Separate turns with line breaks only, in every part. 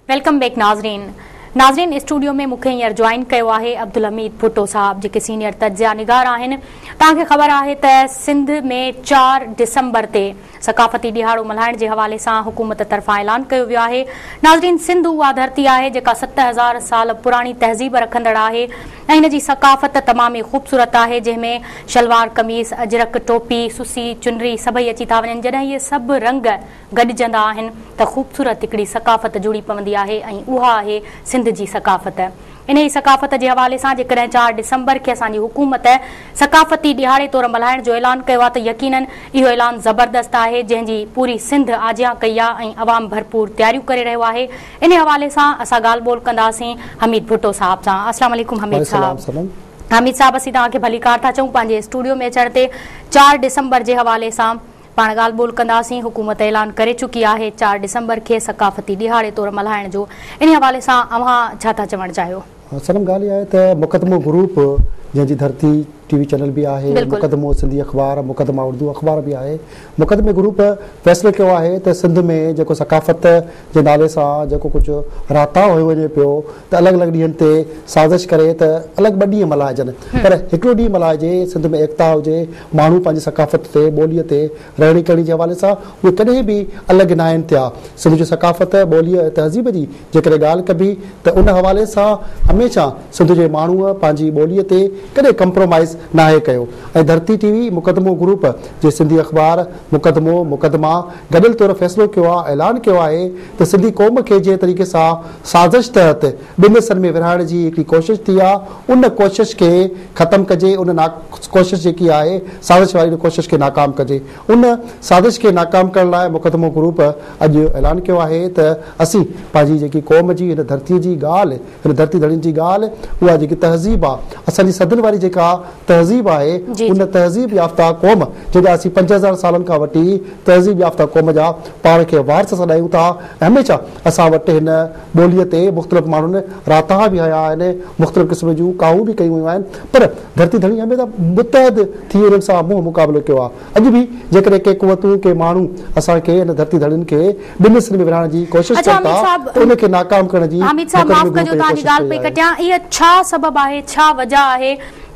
Welcome back ناظرين ناظرين studio ۾ مونکي هينئر جوائن ڪيو آهي عبدالحميد ڀٽو صاحب جيڪي سينئر تجزيا نگار آهن توهان کي خبر آهي ته سنڌ ۾ چار ڊسمبر تي ثقافتي ڏهاڙو ملهائڻ جي حوالي سان حڪومت طرفان اعلان ڪيو ويو آهي ناظرين سنڌ اها ڌرتي آهي جيڪا ست هزار سال پراڻي تهذيب رکندڙ آهي ۽ ان جي ثقافت تمام ئي خوبصورت آهي جنهن ۾ شلوار قميص اجرڪ ٽوپي سسي چنري سڀئي اچي ٿا وڃن جڏهن اهي سڀ رنگ گڏجندا آهن ته خوبصورت هڪڙي ثقافت جڙي پوندي آهي ۽ اها آهي سنڌ جي ثقافت. انهيء ثقافت جي حوالي سان جيڪڏهن چار ڊسمبر کي اسان جي حڪومت ثقافتي ڏهاڙي طور ملهائڻ جو اعلان ڪيو آهي ته يقينن اهو اعلان زبردست آهي جنهن جي پوري سنڌ آجيان ڪئي آهي ۽ عوام ڀرپور تياريون ڪري رهيو آهي انهيء حوالي سان اسان ڳالهه ٻولهه ڪنداسين حميد ڀٽو صاحب سان السلام عليڪم حميد صاحب حميد صاحب اسين توهان کي ڀليڪار ٿا چئون پنهنجي اسٽوڊيو ۾ اچڻ تي چار ڊسمبر جي حوالي سان پاڻ ڳالهه ٻولهه ڪنداسين، حڪومت اعلان ڪري چڪي آهي چار ڊسمبر کي ثقافتي ڏهاڙي طور ملهائڻ جو، انهي حوالي سان اوهان ڇا ٿا چوڻ چاهيو؟ سلم ڳالهه اها آهي ته
مقدمو گروپ جنهن جي ڌرتي ٽي وي چينل به آهي، مقدمو سنڌي اخبار، مقدمه اردو اخبار به آهي، مقدمي گروپ فيصلو ڪيو آهي ته سنڌ ۾ جيڪو ثقافت جي نالي سان جيڪو ڪجهه راتاء هيو وڃي پيو، ته الڳ الڳ ڏينهن تي سازش ڪري ته الڳ ٻه ڏينهن ملهائجن پر هڪڙو ڏينهن ملهائجي سنڌ ۾ ايڪتا هجي ماڻهو پنهنجي ثقافت تي ٻولي تي رهڻي ڪهڻي جي حوالي سان اهي ڪڏهن به الڳ ناهن ٿيا سنڌ جي ثقافت ٻولي ۽ تهذيب جي جيڪڏهن ڳالهه ڪبي ته ان حوالي سان هميشه سنڌ جي ماڻهو پنهنجي ٻولي تي ڪڏهن ڪمپرومائيز ناهي ڪيو ۽ ڌرتي ٽي وي مقدمو گروپ جي سنڌي اخبار مقدمو مقدما گڏيل طور فيصلو ڪيو آهي اعلان ڪيو آهي ته سنڌي قوم کي جنهن طريقي سان سازش تحت ٻن حصن ۾ ورهائڻ جي هڪڙي ڪوشش ٿي آ ان ڪوشش کي ختم ڪجي ان نا ڪوشش جيڪي آهي سازش واري ان ڪوشش کي ناڪام ڪجي ان سازش کي ناڪام ڪرڻ لاء مقدمو گروپ اڄ اعلان ڪيو آهي ته اسين پنهنجي جيڪي قوم جي هن ڌرتي جي ڳالهه هن ڌرتي ڌڻين جي ڳالهه اها جيڪي تهذيب آ اسان جي صدين واري جيڪا تهذيب آهي ان تهذيب يافته قوم جنهن جا اسين پنج هزار سالن کان وٺي تهذيب يافته قوم جا پاڻ کي وارث سڏايون ٿا هميشه اسان وٽ هن ٻوليء تي مختلف ماڻهن راتاها به هنيا آهن، مختلف قسم جون ڪاهون به ڪيون ويون آهن، پر ڌرتي ڌڻي هميشه متحد ٿي انهن سان منهن مقابلو ڪيو آهي. اڄ به جيڪڏهن ڪي قوتون، ڪي ماڻهو اسان کي ان ڌرتي ڌڻين کي ٻن حصن ۾ ورهائڻ جي ڪوشش ڪن ٿا ته ان کي ناڪام ڪرڻ جي مقدمي به مون پئي ڪوشش ڪئي آهي. اهو
ڇا سبب آهي، ڇا وجهه آهي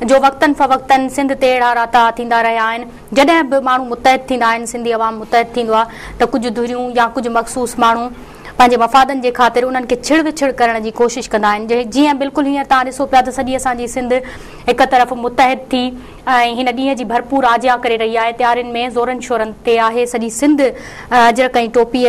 جو وقتن فوقتن سنڌ تي اهڙا راتاها ٿيندا رهيا آهن؟ جڏهن به ماڻهو متحد ٿيندا آهن، سنڌي عوام متحد ٿيندو آهي ته ڪجهه ڌريون يا ڪجهه مخصوص ماڻهو پنهنجي مفادن جي خاطر انهن کي ڇڙ وڇڙ ڪرڻ جي ڪوشش ڪندا آهن جيئن بلڪل هينئر توهان ڏسو پيا ته سڄي اسان جي سنڌ هڪ طرف متحد ٿي ۽ هن ڏينهن جي ڀرپور آجيان ڪري رهي آهي تيارين ۾ زورن شورن تي آهي سڄي سنڌ اجرڪ ۽ ٽوپي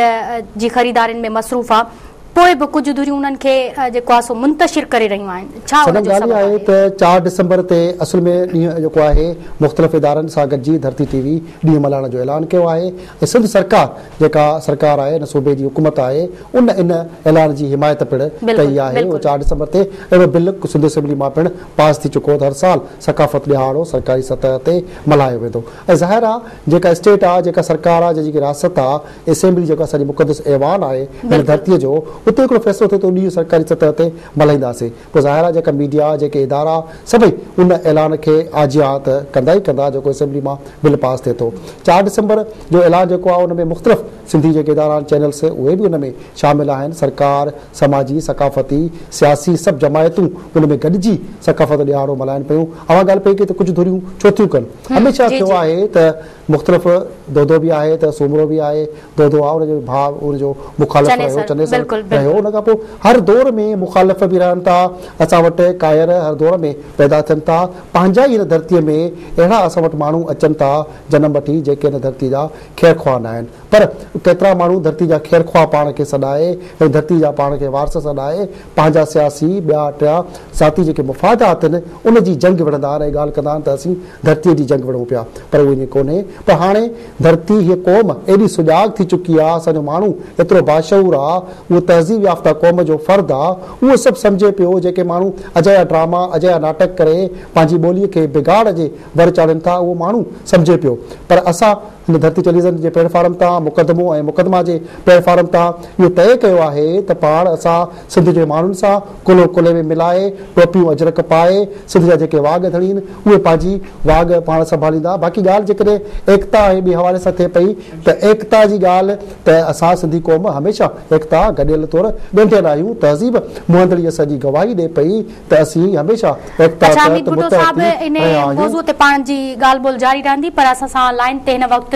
جي خريدارين ۾ مصروف آهي. پوء به ڪجهه ڌريون انهن کي جيڪو آهي سو منتشر ڪري رهيون آهن، ڇا ان جو سبب آهي؟ سندن ڳالهه اها آهي ته
چار ڊسمبر تي اصل ۾ ڏينهن جيڪو آهي مختلف ادارن سان گڏجي ڌرتي ٽي وي ڏينهن ملهائڻ جو اعلان ڪيو آهي ۽ سنڌ سرڪار جيڪا سرڪار آهي ان صوبي جي حڪومت آهي ان ان اعلان جي حمايت پڻ ڪئي آهي ۽ چار ڊسمبر تي اهڙو بل سنڌ اسيمبلي مان پڻ پاس ٿي چڪو ته هر سال ثقافت ڏهاڙو سرڪاري سطح تي ملهايو ويندو ۽ ظاهر آهي جيڪا اسٽيٽ آهي جيڪا سرڪار آهي جنهن جي ڪي رياست آهي اسيمبلي جيڪو اسان جي مقدس ايوان آهي هن ڌرتي جو اتي هڪڙو فيصلو ٿئي ته ڏينهن سرڪاري سطح تي ملهائينداسين پوء ظاهر آهي جيڪا ميڊيا جيڪي ادارا سڀئي ان اعلان کي آجيان ها ته ڪندا ئي ڪندا جيڪو اسيمبلي مان بل پاس ٿئي ٿو چار ڊسمبر جو اعلان جيڪو آهي ان ۾ مختلف سنڌي جيڪي ادارا آهن چينلس اهي به ان ۾ شامل آهن سرڪار سماجي ثقافتي سياسي سڀ جماعتون ان ۾ گڏجي ثقافت ڏهاڙو ملهائن پيون اوهان ڳالهه پئي ڪئي ته ڪجهه ڌريون ڇو ٿيون ڪن هميشه ٿيو آهي ته مختلف دودو به آهي ته سومرو به آهي، دودو آ ان جو ڀاء ان جو مخالف چنيسر، رهيو، چنيسر بلڪل رهيو، بلڪل. ان کان پوء هر دور ۾ مخالف به رهن ٿا، اسان وٽ ڪائر هر دور ۾ پيدا ٿين ٿا، پنهنجا ئي هن ڌرتيء ۾ اهڙا اسان وٽ ماڻهو اچن ٿا جنم وٺي جيڪي هن ڌرتيء جا خير خواهه ناهن پر ڪيترا ماڻهو ڌرتي جا خير خواهه پاڻ کي سڏائي ۽ ڌرتي جا پاڻ کي وارث سڏائي پنهنجا سياسي، ٻيا ٽيا ذاتي جيڪي مفاد آتن، ان جي جنگ وڙهندا آهن ۽ ڳالهه ڪندا آهن ته اسين ڌرتيء جي جنگ وڙهون پيا. پر اهو ائين ڪونهي. پر هاڻي ڌرتي، هيء قوم، ايڏي سجاڳ ٿي چڪي آهي، اسان جو ماڻهو ايترو باشعور آهي، اهو تهذيب يافته قوم جو فرد آهي، اهو سڀ سمجهي پيو، جيڪي ماڻهو اجايا ڊراما، اجايا ناٽڪ ڪري پنهنجي ٻوليء کي بگاڙ جي ور چاڙهين ٿا، اهو ماڻهو سمجهي پيو. پر اسان. هن ڌرتي ٽيليويزن جي پليٽ فارم تان مقدمو ۽ مقدما جي پليٽ فارم تان اهو طئي ڪيو آهي ته پاڻ اسان سنڌ جي ماڻهن سان ڪلهو ڪلهي ۾ ملائي ٽوپيون اجرڪ پائي سنڌ جا جيڪي واڳ ڌڻين اهي پنهنجي واڳ پاڻ سنڀاليندا باقي ڳالهه جيڪڏهن ايڪتا ۽ ٻي حوالي سان ٿئي پئي ته ايڪتا جي ڳالهه ته اسان سنڌي قوم هميشه ايڪتا گڏيل طور ڳنڍيل آهيون تهذيب مهندڙي اسان جي گواهي ڏئي پئي ته اسين هميشه ايڪتا تحت متحد ٿي رهيا آهيون. اڇا حميد ڀٽو صاحب ان موضوع تي
پاڻ جي ڳالهه ٻولهه جاري رهندي پر اسان سان لائين تي هن وقت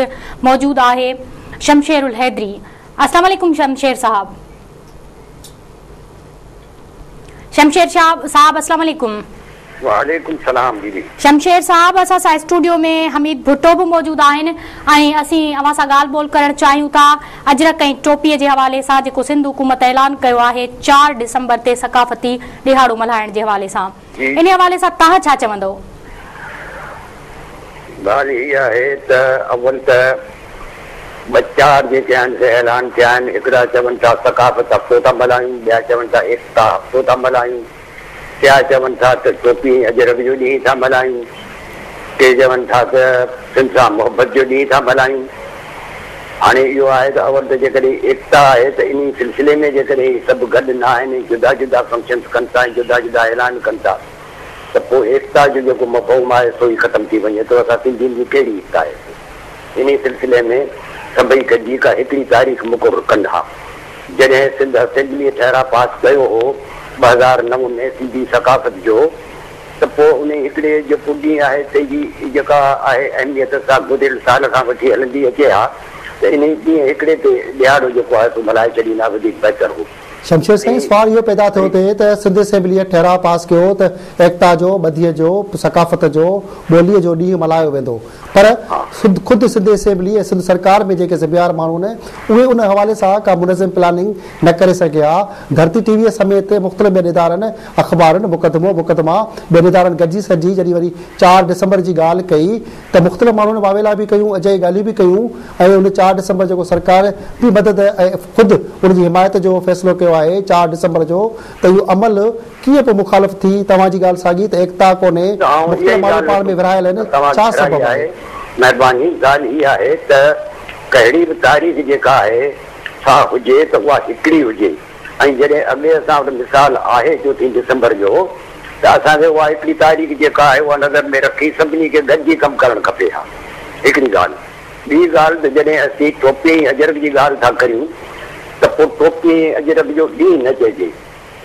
موجود آهي شمشير الحيدري اسلام عليڪم شمشير صاحب شمشير شاهه صاحب اسلام عليڪم. وعليڪم سلام بيبي.
شمشير صاحب اسان
سان اسٽوڊيو ۾ حميد ڀٽو به موجود آهن ۽ اسين اوهان سان ڳالهه ٻولهه ڪرڻ چاهيون ٿا. اجرڪ ۽ ٽوپي جي حوالي سان جيڪو سنڌ حڪومت اعلان ڪيو آهي چار ڊسمبر تي ثقافتي ڏهاڙو ملهائڻ جي حوالي سان انهي حوالي سان توهان ڇا چوندو؟
ڳالهه هي آهي ته اول ته ٻه چار جيڪي آهن سي اعلان ڪيا آهن هڪڙا چون ٿا ثقافت هفتو ٿا ملهايون ٻيا چون ٿا ايڪتا هفتو ٿا ملهايون ڪيا چون ٿا ته ٽوپي ۽ اجرڪ جو ڏينهن ٿا ملهايون، ڪي چون ٿا ته سنڌ سان محبت جو ڏينهن ٿا ملهايون. هاڻي اهو آهي ته اول ته جيڪڏهن ايڪتا آهي ته انهي سلسلي ۾ جيڪڏهن هي سڀ گڏ نه آهن ۽ جدا جدا فنڪشنز ڪن ٿا ۽ جدا جدا اعلان ڪن ٿا ته پوء ايڪتا جو جيڪو مفهوم آهي سو ئي ختم ٿي وڃي ٿو. اسان سنڌين جي ڪهڙي ايڪتا آهي ته انهي سلسلي ۾ سڀئي گڏجي ڪا هڪڙي تاريخ مقرر ڪن ها. جڏهن سنڌ اسيمبليء ٺهراء پاس ڪيو هو ٻه هزار نو ۾ سنڌي ثقافت جو ته پوء انهي هڪڙي جو پڄي آهي پنهنجي جيڪا آهي اهميت سا گذريل سال کان وٺي هلندي اچي ها ته انهي ڏينهن هڪڙي تي ڏهاڙو جيڪو آهي سو ملهائي ڇڏين ها وڌيڪ بهتر هو. شمشير سائين سوال
اهو پيدا ٿيو ٿي ته سنڌ اسيمبليء ٺهراء پاس ڪيو ته ايڪتا جو، ٻڌيء جو، ثقافت جو، ٻوليء جو ڏينهن ملهايو ويندو پر خود سنڌ اسيمبلي ۽ سنڌ سرڪار ۾ جيڪي ذميوار ماڻهو آهن اهي ان حوالي سان ڪا منظم پلاننگ نه ڪري سگهيا ها، ڌرتي ٽي وي سميت مختلف ٻين ادارن، اخبارن، مقدمو، مقدما، ٻين ادارن گڏجي سڏجي جڏهن وري چار ڊسمبر جي ڳالهه ڪئي ته مختلف ماڻهن واويلا به ڪيون اجائي ڳالهيون به ڪيون ۽ ان چار ڊسمبر جيڪو سرڪار بي مدد ۽ خود ان جي حمايت جو فيصلو ڪيو آهي چار ڊسمبر جو ته اهو عمل ڪيئن پوء مخالف ٿي؟ توهان جي ڳالهه ساڳي ته ايڪتا ڪونهي، مختلف ماڻهو پاڻ ۾ ورهايل آهن، ڇا سبب آهي؟ مهرباني
ڳالهه هي آهي ته ڪهڙي به تاريخ جيڪا آهي سا هجي ته اها هڪڙي هجي ۽ جڏهن اڳي اسان وٽ مثال آهي چوٿين ڊسمبر جو ته اسان کي اها هڪڙي تاريخ جيڪا آهي اها نظر ۾ رکي سڀني کي گڏجي ڪم ڪرڻ کپي اها هڪڙي ڳالهه ٻي ڳالهه ته جڏهن اسين ٽوپي ۽ اجرڪ جي ڳالهه ٿا ڪريون ته پوء ٽوپي ۽ اجرڪ جو ڏينهن نه چئجي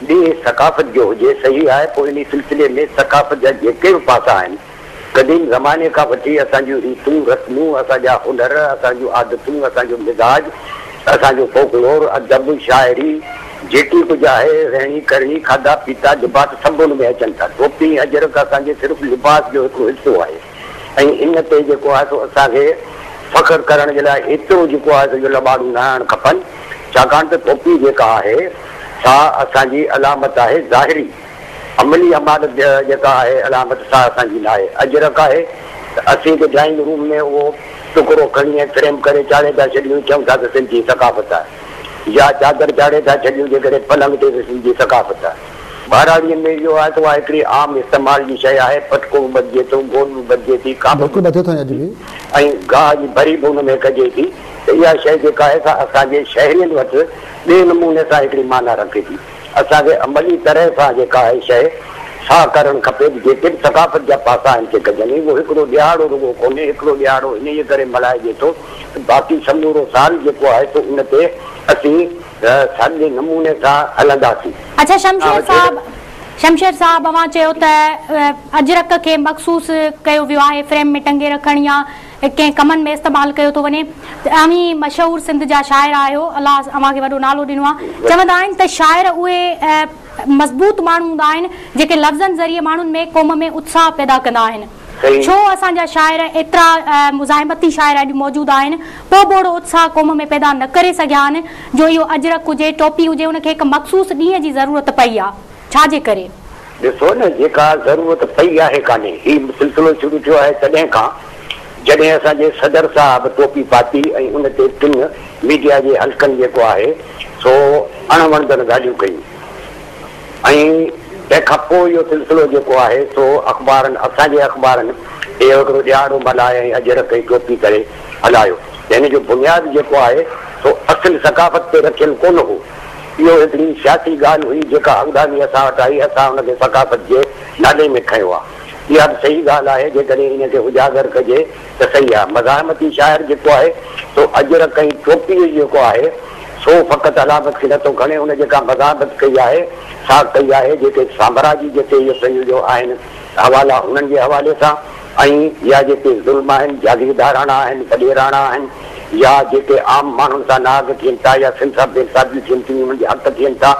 ڏينهن ثقافت جو هجي، صحيح آهي، پوء انهي سلسلي ۾ ثقافت جا جيڪي به پاسا آهن، قديم زماني کان وٺي اسان جون ريتون رسمون، اسان جا هنر، اسان جون عادتون، اسان جو مزاج، اسان جو فوڪلور، ادب، شاعري، جيڪي ڪجهه آهي، رهڻي ڪرڻي، کاڌا پيتا، لباس، سڀ ان ۾ اچن ٿا. ٽوپي ۽ اجرڪ اسان جي صرف لباس جو هڪڙو حصو آهي. ۽ ان تي جيڪو آهي سو اسان کي فخر ڪرڻ جي لاء ايترو جيڪو آهي سو جو لٻاڙو نه هڻڻ کپن، ڇاڪاڻ ته ٽوپي جيڪا آهي سا اسان جي علامت آهي ظاهري، عملي امارت جيڪا آهي علامت سا اسان جي ناهي، اجرڪ آهي ته اسين ته ڊرائنگ روم ۾ اهو ٽڪرو کڻي ۽ فريم ڪري چاڙهي ٿا ڇڏيون چئون ٿا ته سنڌ جي ثقافت آهي يا چادر چاڙهي ٿا ڇڏيون جيڪڏهن پلنگ تي ته سنڌ جي ثقافت آهي. ٻهراڙيء ۾ اهو آهي ته اها هڪڙي عام استعمال جي شيء آهي، پٽڪو به ٻڌجي ٿو، گوڏ به ٻڌجي ٿي، کاٻو به ٻڌجي ٿو ۽ گاهه جي ڀري به ان ۾ ڪجي ٿي ته اها شيء جيڪا آهي سا اسان جي شهرين وٽ ٻئي نموني سان هڪڙي معنيٰ رکي ٿي. اسان کي عملي طرح سان جيڪا اهي شيء سا ڪرڻ کپي ته جيڪي به ثقافت جا پاسا آهن سي ڪجن ۽ اهو هڪڙو ڏهاڙو رڳو ڪونهي، هڪڙو ڏهاڙو انهيء ڪري ملهائجي ٿو ته باقي سمورو سال جيڪو آهي سو ان تي اسين ته ساڳئي نموني سان هلنداسين. اڇا شمشير
صاحب شمشير صاحب اوهان چيو ته اجرڪ کي مخصوص ڪيو ويو آهي فريم ۾ ٽنگي رکڻ يا ڪنهن ڪمن ۾ استعمال ڪيو ٿو وڃي اوهين مشهور سنڌ جا شاعر آهيو الله اوهان کي وڏو نالو ڏنو آهي چوندا آهن ته شاعر اهي مضبوط ماڻهو هوندا آهن جيڪي لفظن ذريعي ماڻهن ۾ قوم ۾ اتساهه پيدا ڪندا آهن. سهي. ڇو اسان جا شاعر ايترا مزاحمتي شاعر اڄ موجود آهن، پوء به اهڙو اتساهه قوم ۾ پيدا نه ڪري سگهيا آهن، جو اهو اجرڪ هجي، ٽوپي هجي، ان کي هڪ مخصوص ڏينهن جي ضرورت پئي آ. ڇا جي ڪري؟ ڏسو نه،
جيڪا ضرورت پئي آهي ڪانهي. هي سلسلو شروع ٿيو آهي تڏهن کان، جڏهن اسان جي صدر صاحب ٽوپي پاتي ۽ ان تي ٽن ميڊيا جي حلقن جيڪو آهي سو اڻ وڻندڙ ڳالهيون ڪيون. ۽ تنهن کان پوء اهو سلسلو جيڪو آهي سو اخبارن اسان جي اخبارن اهو هڪڙو ڏيهاڙو ملهاء ۽ اجرڪ ۽ ٽوپي ڪري هلايو ته هن جو بنياد جيڪو آهي سو اصل ثقافت تي رکيل ڪونه هو اهو هڪڙي سياسي ڳالهه هئي جيڪا اڳڀاڱي اسان وٽ آئي اسان ان کي ثقافت جي نالي ۾ کنيو آهي اها به صحيح ڳالهه آهي جيڪڏهن ان کي اجاگر ڪجي ته صحيح آهي. مزاحمتي شاعر جيڪو آهي سو اجرڪ ۽ ٽوپيء جيڪو آهي، سو فقط علامت کي نٿو کڻي، هن جيڪا مزاحمت ڪئي آهي، سا ڪئي آهي، جيڪي سامراجي جتي اهي پنهنجو جو آهن حوالا انهن جي حوالي سان ۽ يا جيڪي ظلم آهن، جاگيرداراڻا آهن، وڏيراڻا آهن يا جيڪي عام ماڻهن سان نااهل ٿين ٿا يا سنساب بي انصافيون ٿين ٿيون، انهن جي حق ٿين ٿا.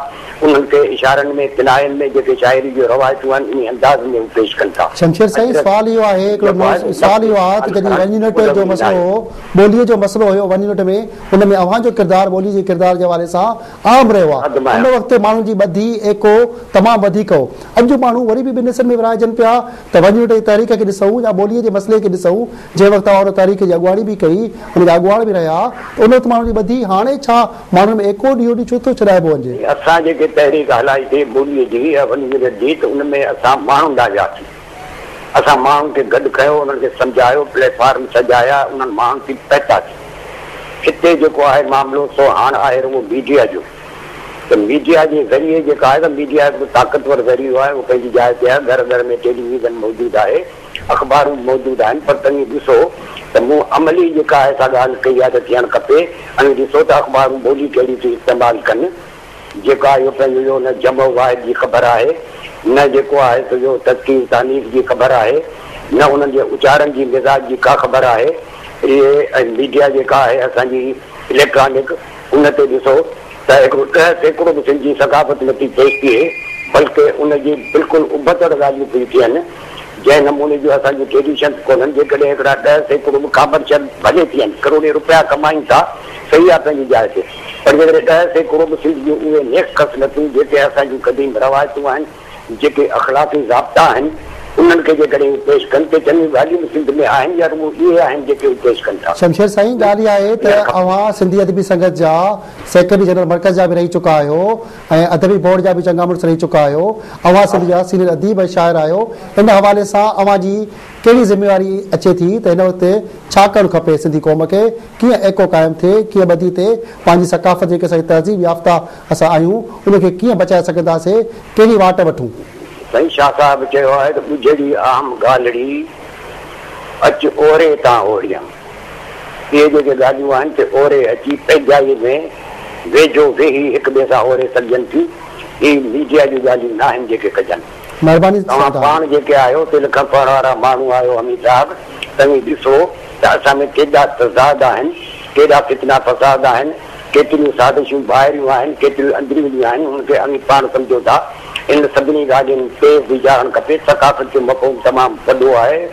انهن کي اشارن ۾ ڪناين ۾ جيڪي شاعري جون روايتون
آهن انهي انداز ۾ هو پيش ڪن ٿا. شمشير سائين سوال اهو آهي هڪڙو نوز سوال اهو آهي ته جڏهن وني نٽ جو مسئلو هو ٻولي جو مسئلو هيو وني نٽ ۾ ان ۾ اوهان جو ڪردار ٻولي جي ڪردار جي حوالي سان اهم رهيو آهي ان وقت ماڻهن جي ٻڌي ايڪو تمام وڌيڪ هو اڄ ماڻهو وري به ٻن حصن ۾ ورهائجن پيا ته وني نٽ جي تحريڪ کي ڏسون يا ٻولي جي مسئلي کي ڏسون جنهن وقت اوهان ان تحريڪ جي اڳواڻي به ڪئي ان جا اڳواڻ به رهيا ته ان وقت ماڻهن جي ٻڌي هاڻي ڇا ماڻهن ۾ ايڪو ڏيئو ڏي ڇو ٿو ڇڏائبو وڃي. اسان جيڪي تحريڪ
هلائي سي ٻولي جي اها وڏي وڏي جيت ان ۾ اسان ماڻهن ڏانهن وياسين اسان ماڻهن کي گڏ ڪيو انهن کي سمجهايو پليٽ فارم سجايا انهن ماڻهن کي پهتاسين هتي جيڪو آهي معاملو سو هاڻ آهي رڳو ميڊيا جو ته ميڊيا جي ذريعي جيڪا آهي سا ميڊيا هڪڙو طاقتور ذريعو آهي اهو پنهنجي جاء تي آهي گهر گهر ۾ ٽيلي ويزن موجود آهي. اخبارون به موجود آهن پر تنهن ڏسو ته مون عملي جيڪا آهي سا ڳالهه ڪئي آهي ته ٿيڻ کپي ۽ ڏسو ته اخبارون ٻولي ڪهڙي ٿيون استعمال ڪن جيڪا اهو پنهنجو جو نه جمع و واحد جي خبر آهي نه جيڪو آهي سو جو تذڪير و تانيث جي خبر آهي نه انهن جي اچارن جي مزاج جي ڪا خبر آهي اهي ۽ ميڊيا جيڪا آهي اسان جي اليڪٽرانڪ ان تي ڏسو ته هڪڙو ڏهه سيڪڙو به سنڌي ثقافت نه ٿي پيش ٿئي بلڪه ان جي بلڪل ابتڙ ڳالهيون پيون ٿين. جنهن نموني جون اسان جون ٽريڊيشنز ڪونهن، جيڪڏهن هڪڙا ڏهه سيڪڙو به ڪامرشل ڀلي ٿين، ڪروڙين رپيا ڪمائين ٿا، صحيح آهي پنهنجي جاء تي، پر جيڪڏهن ڏهه سيڪڙو به سنڌ جون اهي نيڪ خصلتون جيڪي اسان جون قديم روايتون آهن، جيڪي اخلاقي ضابطا آهن، انهن کي جيڪڏهن اهي پيش ڪن ته چڱيون ڳالهيون به سنڌ ۾ آهن يا رڳو اهي آهن جيڪي اهي پيش ڪن ٿا. شمشير سائين ڳالهه اها آهي
ته اوهان سنڌي ادبي سنگت جا سيڪريٽري جنرل مرڪز جا به رهي چڪا آهيو، ۽ ادبي بورڊ جا به چڱا مڙس رهي چڪا آهيو. اوهان سنڌ جا سينيئر اديب ۽ شاعر آهيو، ان حوالي سان اوهان جي ڪهڙي ذميواري اچي ٿي ته هن وقت ڇا ڪرڻ کپي سنڌي قوم کي ڪيئن ايڪو قائم ٿئي، ڪيئن ٻڌي ٿئي پنهنجي ثقافت جيڪي اسان جي تهذيب يافته اسان آهيون ان کي ڪيئن بچائي سگهنداسي ڪهڙي واٽ وٺون. سائين شاهه
صاحب چيو آهي ته ٻجهڙي اهم گالڙي اچ اوري تان اوريان. اهي جيڪي ڳالهيون آهن سي اوري اچي پنهنجائي ۾ ويجهو ويهي هڪ ٻئي سان اوري سگهجن ٿيون. هي ميڊيا جون ڳالهيون ناهن جيڪي ڪجن. مهرباني توهان سردار. پاڻ
جيڪي
آهيو دل کان پڙهڻ وارا ماڻهو آهيو حميد صاحب توهين ڏسو ته اسان ۾ ڪيڏا تضاد آهن ڪيڏا فتنا فساد آهن ڪيتريون سازشون ٻاهريون آهن ڪيتريون اندروني آهن ان کي اوهين پاڻ سمجهو ٿا انهن سڀني ڳالهين تي ويجهارڻ کپي ثقافت جو مفهوم تمام وڏو آهي.